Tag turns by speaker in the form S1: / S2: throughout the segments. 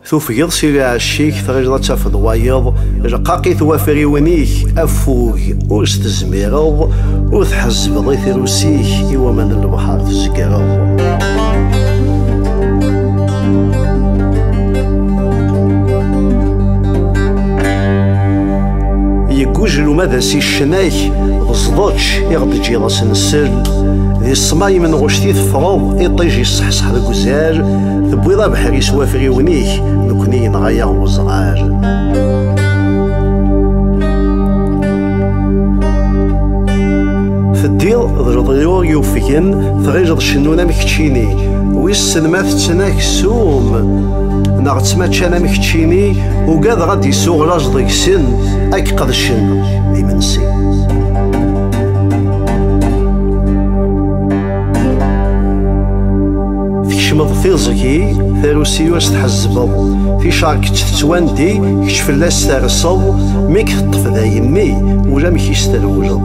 S1: Tufgeḍ si lɛecc-ik, tɣileḍ ad tafeḍ wayeḍ, rqaqit wafriwen-ik, affug ur s-tezmireḍ, ur tḥezzbeḍ i tirus-ik, i waman n lebḥer tzegreḍ. Yeggujel uma d as-iccenak, d ẓḍečč i ɣ-d-ǧǧiḍ asensen, di ṣṣmayem n ɣuct i teffreḍ, iṭij yesseḥseḥ deg Zer, tewwiḍ abeḥri s wafriwen-ik, nekkni yenɣa-yaɣ weẓɣar. Teddiḍ d leḍyur yufgen, tɣileḍ cennun am keččini, wissen ma tetten aksum, neɣ ttmaččan am keččini, ugadeɣ ad d-isuɣ laẓ deg-sen, ad k-qedcen d imensi. Tkecmeḍ tiẓgi, tarusi-u as tḥezzbeḍ, ticar kečč tettwandi, kečč fell-as terseḍ, mi k-teṭṭef d ayemmi, ulamek i s-terwleḍ.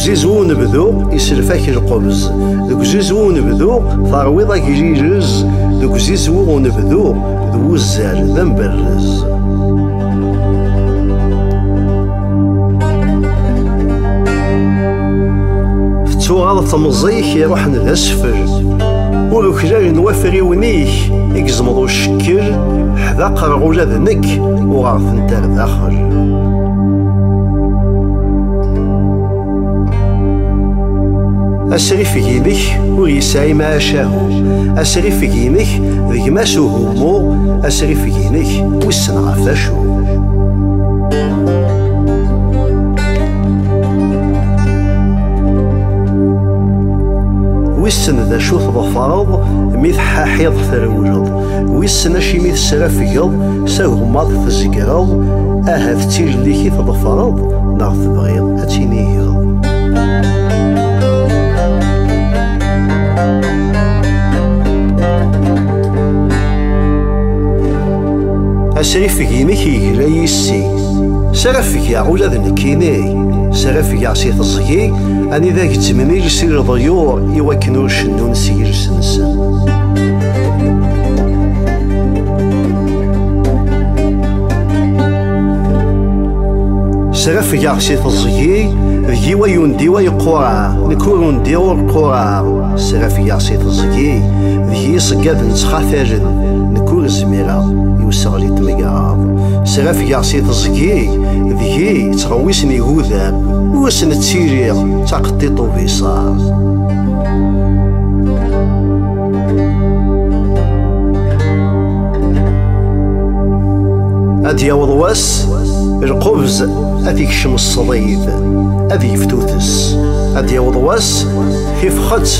S1: uzizu unebdu iselfak lqebz deg uzizu unebdu terwiḍ agrirez deg uzizu unebdu d wuzzal d amberrez Tettuɣaḍ temẓi-k iruḥen d asfel Ur uklal n wafriwen-ik i gezmeḍ ucekkel Ḥdaqreɣ ula d nekk uɣeɣ-tent ar daxel asrif ginek ur yesɛi macahu asrif ginek deg mas uhummu asrif ginek Ḥebsen ɣef wacu? Wissen d acu tḍefreḍ mi tḥaḥiḍ trewleḍ, wissen acimi tesrafgeḍ s agmaḍ tezgreḍ, ahat d tilelli-k i tḍefreḍ neɣ tebɣiḍ ad tinigeḍ. Asrifeg-inek yegla yis-i, srafgeɣ ula d nekk ini, srafgeɣ si teẓgi anida gezzmemil si leḍyur i wakken ur cennun si yiles-nsen. Srafgeɣ si teẓgi d yiwa yundiwa yeqqurar, nekk ur undiɣ ur qqurar, srafgeɣ si teẓgi d yiṣeggaden ttxatalen, zmireɣ i useɣli n tmegraḍ srafgeɣ si teẓgi deg-i yettɣewwisen igudam ur asen-ttiliɣ d taqeṭṭiṭ ubiṣaṛ ad yaweḍ wass lqubz ad ikcem ṣṣdid ad yeftuttes ad yaweḍ wass Tifxet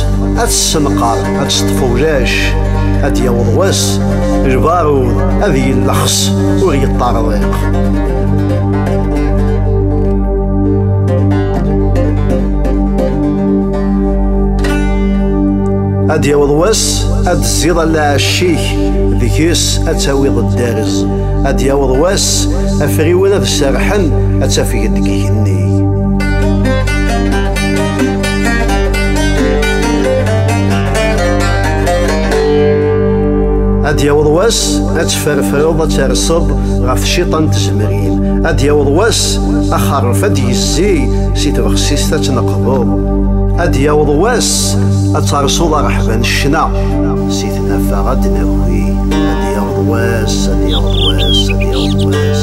S1: ad tessenqer ad teṭṭef ulac ad d-yaweḍ wass lbarud ad yellexs ur yeṭṭarḍiq ad yaweḍ wass ad tziḍ allaɛec-ik deg-s ad tawiḍ dderz ad yaweḍ wass afriwen ad serrḥen ad tafgeḍ deg igenni ad yaweḍ wass ad tferfreḍ ad terseḍ ɣef cciṭa n tzemrin ad yaweḍ wass axerref ad yezzi si tbexsist ad tneqḍeḍ ad yaweḍ wass ad tersuḍ areḥba n ccna si tnafa ad d-naki ad yaweḍ wass ad yaweḍ wass ad yaweḍ wass